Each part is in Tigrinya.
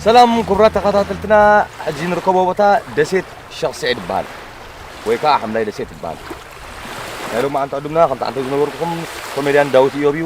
ሰላም ክቡራት ተኸታተልትና ሕጂ ንርከቦ ቦታ ደሴት ሸኽ ስዒድ ይበሃል ወይ ከዓ ሓምላይ ደሴት ይበሃል ናይ ሎሚ መዓልቲ ዕዱምና ከምቲ ዓንተ ዝነበርኩኹም ኮሜድያን ዳዊት እዮብ እዩ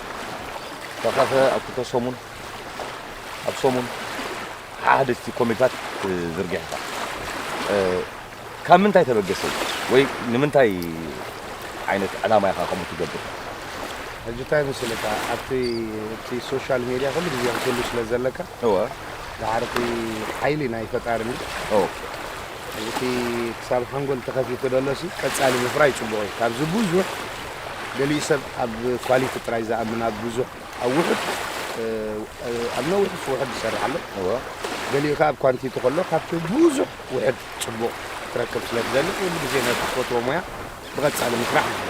ተኸፈ ኣብ ክልተ ሰሙን ኣብ ሰሙን ሓሓደስቲ ኮሚታት ዝርጊሕኻ ካብ ምንታይ ተበገሰ ወይ ንምንታይ ዓይነት ዕላማ ኢኻ ከምኡ ትገብር ሕጂ እንታይ መሰለካ ኣብቲ እቲ ሶሻል ሜድያ ኩሉ ግዜ ክትህሉ ስለ ዘለካ እወ ዳሓር እቲ ሓይሊ ናይ ፈጣሪ እንድዩ ኦኬ ሕዚ እቲ ክሳብ ሓንጎል ተኸፊቱ ዘሎ ሲ ቀጻሊ ምፍራይ ጽቡቕ እዩ ካብዚ ብዙሕ ገሊኡ ሰብ ኣብ ኳሊቲ ጥራይ ዝኣምን ኣብ ብዙሕ ኣብ ውሑድ ኣብ ነዊሕስ ውሑድ ዝሰርሕ ኣሎ እወ ገሊኡ ከኣ ኣብ ኳንቲቲ ከሎ ካብቲ ብዙሕ ውሕድ ጽቡቕ ክትረክብ ስለ ትደሊ ኩሉ ግዜ ነቲ ትፈትዎ ሞያ ብቐጻሊ ምስራሕ ይድለ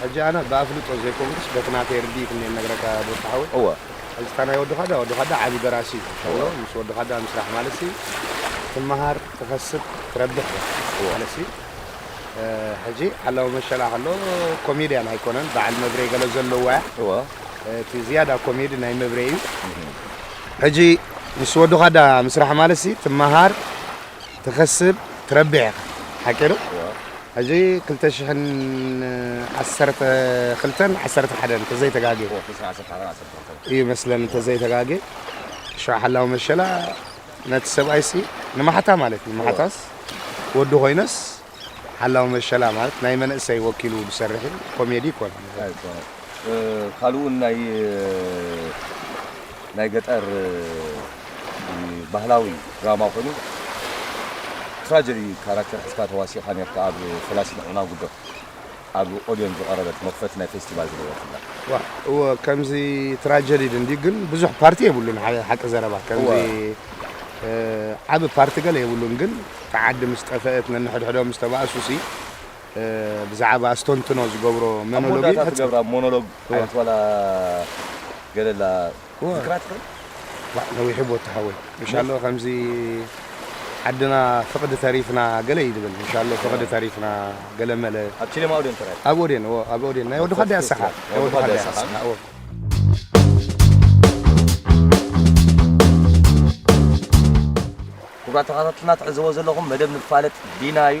ሕጂ ኣነ ብኣፍልጦ ዘይኮንኩስ በቲ ናተይ ርድኢት እንኤ ንነግረካ ዶስታ ሓወይ። እወ። ሕጂ እታ ናይ ወዲ ካዳ ወዲ ካዳ ዓቢ ደራሲ እዩ እወ። ምስ ወዲ ካዳ ምስራሕ ማለትሲ ትመሃር ትኸስብ ትረብሕ ኢኻ እወ። ማለትሲ ሕጂ ሓላዊ መሸላ ከሎ ኮሜድያን ኣይኮነን በዓል መብሬ ገለ ዘለዎ እያ እወ። እቲ ዝያዳ ኮሜዲ ናይ መብሬ እዩ እህ። ሕጂ ምስ ወዲ ካዳ ምስራሕ ማለትሲ ትመሃር ትከስብ ትረብሕ ኢካ ሓቂ ዶ ሕጂ ክልተ ሽሕን ዓሰርተ ክልተን ዓሰርተ ሓደን እንተዘይ ተጋጌ እዩ መስለኒ እንተዘይ ተጋጌ ሽዑ ሓላዊ መሸላ ነቲ ሰብኣይሲ ንማሕታ ማለት እዩ ንማሕታስ ወዱ ኮይነስ ሓላዊ መሸላ ማለት ናይ መንእሰይ ወኪሉ ዝሰርሕ እዩ ኮሜዲ ኣይኮነን እዚ ኣይኮነን ካልእ ውን ናይ ናይ ገጠር ባህላዊ ድራማ ኮይኑ ትራጀዲ ካራክተር ሒዝካ ተዋሲእካ ኔርካ ኣብ ፈላሲ ንዕማጉዶ። ኣብ ኦድዮን ዝቐረበት መኽፈቲ ናይ ፌስቲቫል ዝነበርክላ። ዋእ እወ ከምዚ ትራጀዲድ እንድዩ ግን ብዙሕ ፓርቲ የብሉን ሓቂ ዘረባ ከምዚ እወ። ዓቢ ፓርቲ ገለ የብሉን ግን እታ ዓዲ ምስ ጠፈእት ነንሕድሕዶም ምስ ተባእሱሲ ብዛዕባ ኣስተንትኖ ዝገብሮ ኣብ መኖሎጊ መወዳእታ ፈጺሙ ትገብራ ሞኖሎግ እወ። ዓይነት ዋላ ገለላ ዝክራ ትክእል ዋእ ነዊሑ ቦቲ ሓወይ እንሻሎ ከምዚ ዓድና ፍቅዲ ተሪፍና ገለ እዩ ዝብል እንሻሎ ፍቅዲ ተሪፍና ገለ መለ ኣብ ቺለ ማውዴን ተራይ ኣብ ኦዴን እዎ ኣብ ኦዴን ናይ ወዲ ካዳይ ኣሳካ ናይ ወዲ ካዳይ ኣሳካ እዎ ክቡራት ተኸታተልትና ትዕዘቦ ዘለኹም መደብ ንፋለጥ ዲና እዩ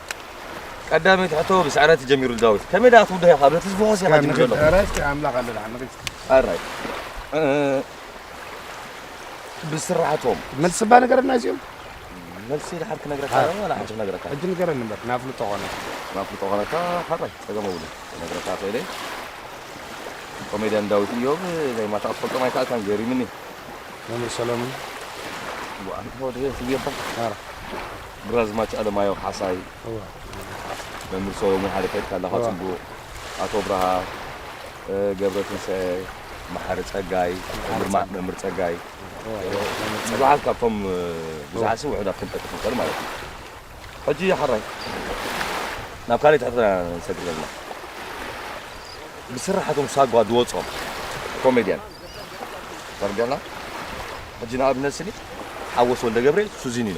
ቀዳመይቲ ሕቶ ብስዕረት ተጀሚሩ ዳዊት ከመይ ደኣ ትውድሃ ኢኻ በቲ ዝፈኾስ ኢኻ ትብል ዘሎ ኣምላኽ ኣለና ኣራይ ብስራሕቶም መልሲ ባ ነገረና እዚኦም መልሲ ድሓር ክነግረካ ዋላ ሓንቲ ክነግረካ ሕጂ ንገረኒ እምበር ናፍልጦ ኾነ ናፍልጦ ኾነካ ሓራይ ፀገም እውን ክነግረካ ክእለ ኮሜድያን ዳዊት እዮም ናይ ማታ ክትፈልጦም ኣይከኣልካን ገሪምኒ መምህር ሰሎምን ዋኣንተ ወደ ስብየባ ግራዝማች ኣለማየሁ ካሕሳይ፣ መምህር ሰሎሙን ሓደ ከድካ ኣለኻ ጽቡቕ፣ ኣቶ ኣብርሃ ገብረትንሳኤ፣ መሓሪ ጸጋይ፣ መምህር ጸጋይ፣ ብዙሓት ካብቶም ብዙሓት ስም ውሑዳት ክንጠቅስ ንኽእል ማለት እዩ። ሕጂ ሓራይ ናብ ካልእ ትሕትና ኢና ንሰግር ዘለና። ብስርሓቶም ሳጓ ዝወጾም ኮሜድያን ተረዲኣና። ሕጂ ንኣብነት ስኒ ሓወስ ወልደገብርኤል ሱዚኒኖ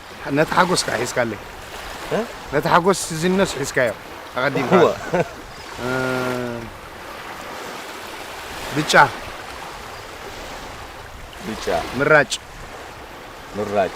ነቲ ሓጎስ ከ ሒዝካለይ ነቲ ሓጎስ ሲዚኖስ ሒዝካዮ ኣቐዲምካ እወ። ብጫ ብጫ ምራጭ ምራጭ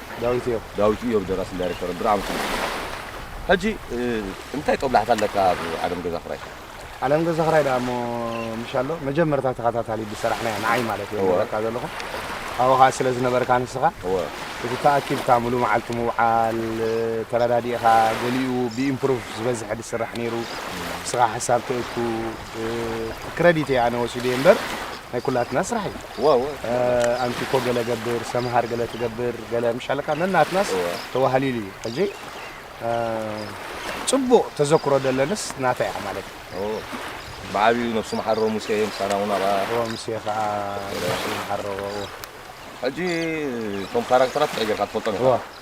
ዳዊት እዮብ። ዳዊት እዮብ ደራስን ዳይረክተርን ብርዕ ኣምስሉ እዩ። ሕጂ እንታይ ጦብላሕታ ኣለካ ኣብ ዓለም ገዛ ክራይ? ዓለም ገዛ ክራይ ደኣ እሞ ምሽ ኣሎ መጀመርታ ተኸታታሊ ብሰራሕናዮ ንዓይ ማለት እየ ዝነግረካ ዘለኹ ኣብኡ ከኣ ስለ ዝነበርካ ንስኻ እቲ ተኣኪብካ ምሉእ መዓልቲ ምውዓል ተረዳዲእኻ ገሊኡ ብኢምፕሩቭ ዝበዝሐ ዝስራሕ ነይሩ ንስኻ ሓሳብ ተእቱ ክረዲት እየ ኣነ ወሲደየ እምበር ናይ ኩላትና ስራሕ እዩ ዋው ኣንቲ እኮ ገለ ገብር ሰምሃር ገለ ትገብር ገለ ምሽ ኣለካ ነናትናስ ተዋህሊሉ እዩ ሕጂ ጽቡቕ ተዘክሮ ደለንስ ናተይ እያ ማለት ብዓብዩ ነብሱ መሓሮ ሙሴ ምሳና እውን ኣብኣ ሙሴ ከዓ መሓሮ ሕጂ እቶም ካራክተራት እንታይ ጌርካ ትፈልጦም ኢኻ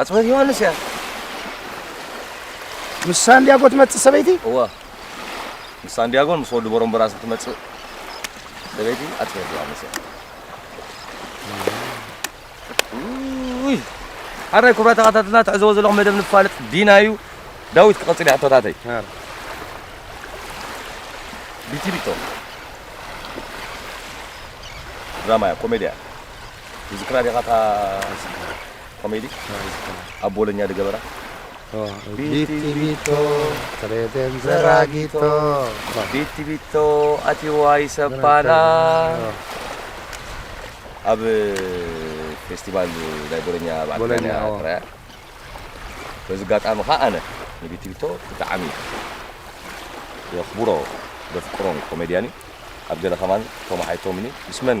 ኣጽብህት ዮሃንስ እያ ምስ ሳንዲያጎ ትመጽእ ሰበይቲ እወ ምስ ሳንዲያጎን ምስ ወዲ ቦሮምበራስ ትመጽእ ሰበይቲ ኣጽብህት ዮሃንስ እያ ውይ ሓራይ ኩብራ ተኸታተልና ትሕዘቦ ዘለኹ መደብ ንፋልጥ ዲና እዩ ዳዊት ክቐጽል ሕቶታተይ ቢቲቢቶ ድራማ እያ ኮሜድያ ዝክራ ዲኻ እታ ኮሜዲ ኣብ ቦለኛ ድገበራ ቢቲ ቢቶ ትሬደን ዘራጊቶ ቢቲ ቢቶ ኣቲዋ ይሰባላ ኣብ ፌስቲቫል ናይ ቦለኛ ባዕዳኛ ጥራያ በዚ ኣጋጣሚ ከዓ ኣነ ንቢቲ ቢቶ ብጣዕሚ የኽብሮ ዘፍቅሮን ኮሜድያን እዩ ኣብ ገለ ከማን ቶማሓይቶምኒ ምስ መን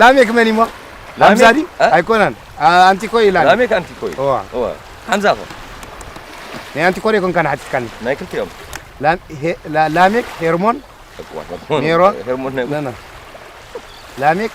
ላሜክ መን እሞ ሓምዛ ድዩ ኣይኮነን ኣንቲኮ እዩ ላሜክ ኣንቲኮ እዩ እወ ሓምዛ ኮ ናይ ኣንቲኮ ዶ ይኮንካ ንሓቲትካኒ ናይ ክልቲኦም ላሜክ ሄርሞን ሜሮን ላሜክ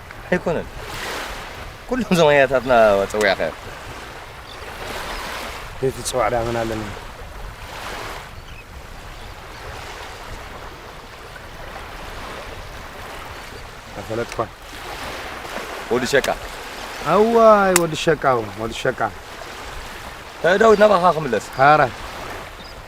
ኣይኮነን ኩሎም እዞም ኣያታትና ፀዊዕኻዮም ዘይትፅዋዕ ድኣ መን ኣለኒ ኣይፈለጥኳን ወዲ ሸቃ ኣዋይ ወዲ ሸቃ ወዲ ሸቃ ዳዊት ናባኻ ክምለስ ሃራ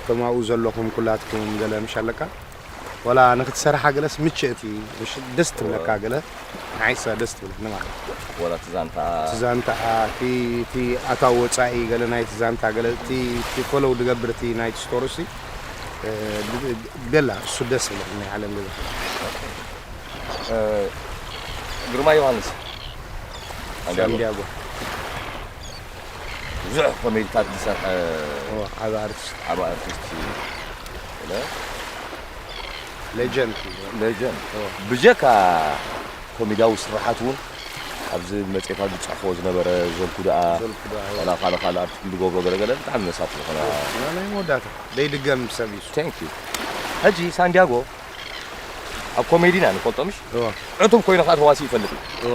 እቶም ኣብኡ ዘለኹም ኩላትኩም ገለ ምሽ ኣለካ ዋላ ንክትሰርሓ ገለስ ምችእቲ ምሽ ደስ ትብለካ ገለ ንዓይ እሳ ደስ ትብለኒ ማለት እዩ ወላ እቲ ዛንታኣ እቲ ዛንታኣ እቲ እቲ ኣታዊ ወጻኢ ገለ ናይቲ ዛንታ ገለ እቲ እቲ ፈለው ድገብር እቲ ናይቲ ስቶርሲ ገላ እሱ ደስ ይብለኒ ናይ ዓለም ገዛ ግርማ ዮሃንስ ሳንዲያጎ ብዙሕ ኮሜድታት ዝሰርሐ ዓብ ኣርቲስት ዓብ ኣርቲስት ሌጀንድ ሌጀንድ ብጀካ ኮሜድያዊ ስራሓት እውን ኣብዚ መፅኤታት ዝፅሕፎ ዝነበረ ዘልኩ ደኣ ላ ካልእ ካልእ ኣርቲስት ዝገብሮ ገለገለ ብጣዕሚ መሳጢ ዝኾነ ናይ መወዳእታ ዘይድገም ሰብ እዩ ቴንክ ዩ ሕጂ ሳንዲያጎ ኣብ ኮሜዲና ንፈልጦ ምሽ ዕቱብ ኮይኑ ከዓ ተዋሲ ይፈልጥ እዩ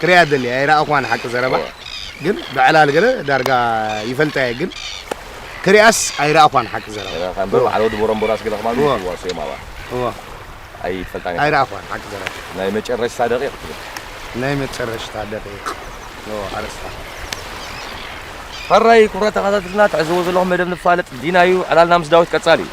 ክሪኣ ደልየ ኣይረኣኹዋን ሓቂ ዘረባ ግን ብዕላል ገለ ዳርጋ ይፈልጣየ ግን ክሪኣስ ኣይረኣኹዋን ሓቂ ዘረባ እምበር በዓል ወዲ ቦረምቦራስ ገለ ከማን ይዋሰዮም ኣባ እዋ ኣይፈልጣን ኣይረኣኹዋን ሓቂ ዘረባ ናይ መጨረሽታ ደቂቕ ትብል ናይ መጨረሽታ ደቂቕ እዋ ኣርእስታ ሕራይ ኩብራ ተኸታተልና ትዕዝዎ ዘለኹም መደብ ንፋለጥ ዲና እዩ ዕላልና ምስ ዳዊት ቀጻሊ እዩ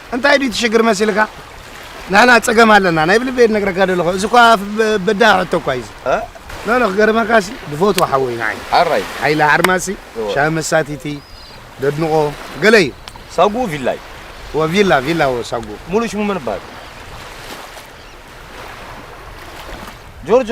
እንታይ ድዩ እቲ ሽግር መሲልካ ንሕና ፀገም ኣለና ናይ ብልበይ ነግረካ ደለኹ እዚ እኳ በዳህ ሕቶ እኳ እዩ ኖኖ ክገርመካ ሲ ብፈትዎ ሓወይ ንዓይ ኣራይ ሓይለ ሓርማሲ ሻሂ መሳቲቲ ደድንቆ ገለ እዩ ሳጉኡ ቪላ እዩ ወቪላ ቪላ ወ ሳጉኡ ሙሉእ ሽሙ መን ይበሃል ጆርጆ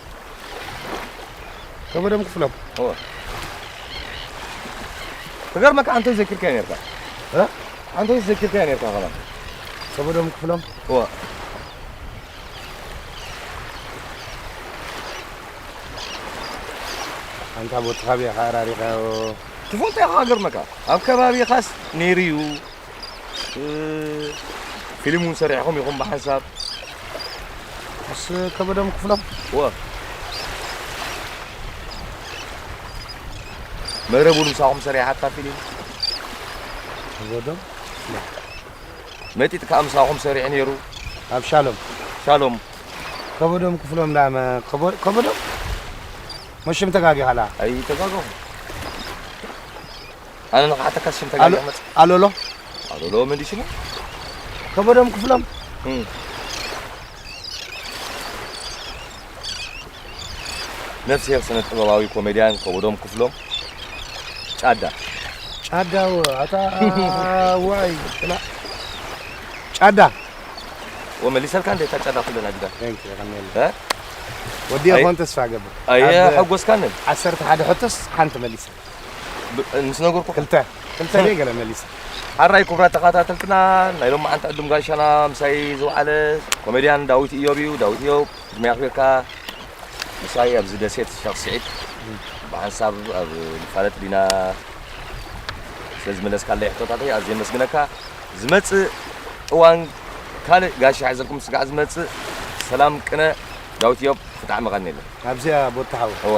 ከበደም ክፍሎም ክገርመካ ኣንተ ዘኪርካዮ ነርካ ኣንተ ዘኪርካዮ ነርካ ከማን ከበደም ክፍሎም ኣንታ ቦትኻብያ ከኣራሪኻዮ ትፈልጦ ኢኻ ገርመካ ኣብ ከባቢኻስ ነይሩ እዩ ፊልም እውን ሰሪሕኹም ኢኹም ብሓንሳብ ምስ ከበደም ክፍሎም ወ መረብ እውን ምሳኹም ሰሪሓታ ፊልም ከበደም መጢጥ ከዓ ምሳኹም ሰሪሕ ነይሩ ኣብ ሻሎም ሻሎም ከበደም ክፍሎም ዳ ከበደም መሽም ተጋጊኻላ ኣይተጋገኹ ኣነ ንክሓተካ ሽም ተጋጊ መፅ ኣሎሎ ኣሎሎ መሊስኒ ከበዶም ክፍሎም ነፍስሄር ስነ ጥበባዊ ኮሜዲያን ከበዶም ክፍሎም ጫዳ ጫዳ ኣታ ዋይ ጫዳ ወመሊሰልካ እንደ እታ ጫዳ ኩለና ጅዳ ወዲ ኾን ተስፋ ገብር ኣየ ሓጎስካንን ዓሰርተ ሓደ ሕቶስ ሓንቲ መሊሰ ምስ ነገርኩ ክልተ ክልተ ደይ ገለ መሊሰ ሓራይ ክቡራት ተኸታተልትና ናይ ሎም መዓንቲ ዕዱም ጋሻና ምሳይ ዝውዓለ ኮሜድያን ዳዊት እዮብ እዩ ዳዊት እዮብ ዕድመ ኣኽቢርካ ምሳይ ኣብዚ ደሴት ሸኽ ስዒድ ብሓንሳብ ኣብ ንፋለጥ ዲና ስለ ዝመለስካለይ ሕቶታተይ ኣዝየ መስግነካ ዝመፅእ እዋን ካልእ ጋሻ ሕዘልኩም ስጋዕ ዝመፅእ ሰላም ቅነ ዳዊት እዮብ ብጣዕሚ ቀኒለ ኣብዚኣ ቦታሓዊ እወ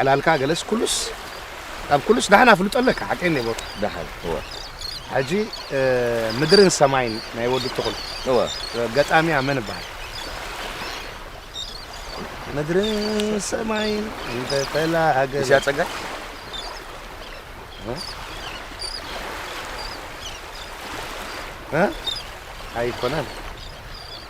ዕላልካ ገለስ ኩሉስ ካብ ኩሉስ ዳሕን ኣፍልጦ ኣለካ ሓቀይ ኔቦ ዳሕን እወ ሕጂ ምድርን ሰማይን ናይ ወዲ ትኹል እወ ገጣሚያ መን ይበሃል ምድርን ሰማይን እንተተላሃገ እዚኣ ፀጋይ ኣይኮነን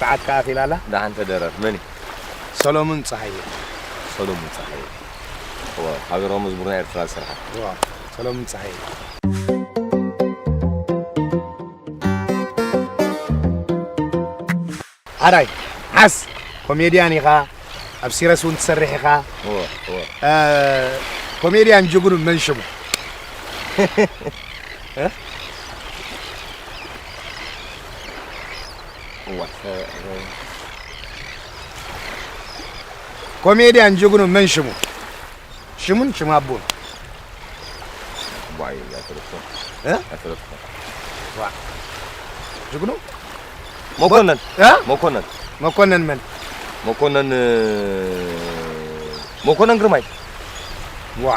ሰዓት ከኣ ኣቲላ ኣላ። ደሓን ተደረር መን እዩ? ሰሎሙን ጸሃየ። ሰሎሙን ጸሃየ ዋው ሃገራዊ መዝሙር ናይ ኤርትራ ዝሰርሓ። ዋው ሰሎሙን ጸሃየ። ሐራይ ዓስ ኮሜድያን ኢኻ ኣብ ሲረስ እውን ትሰርሕ ኢኻ ኮሜድያን ጅግኑ መን ሽሙ ኮሜድያን ጅግኑ መን ሽሙ ሽሙን ሽም ኣቦን ጅግኑ መኮነን መኮነን መኮነን መን መኮነን መኮነን ግርማይ ዋ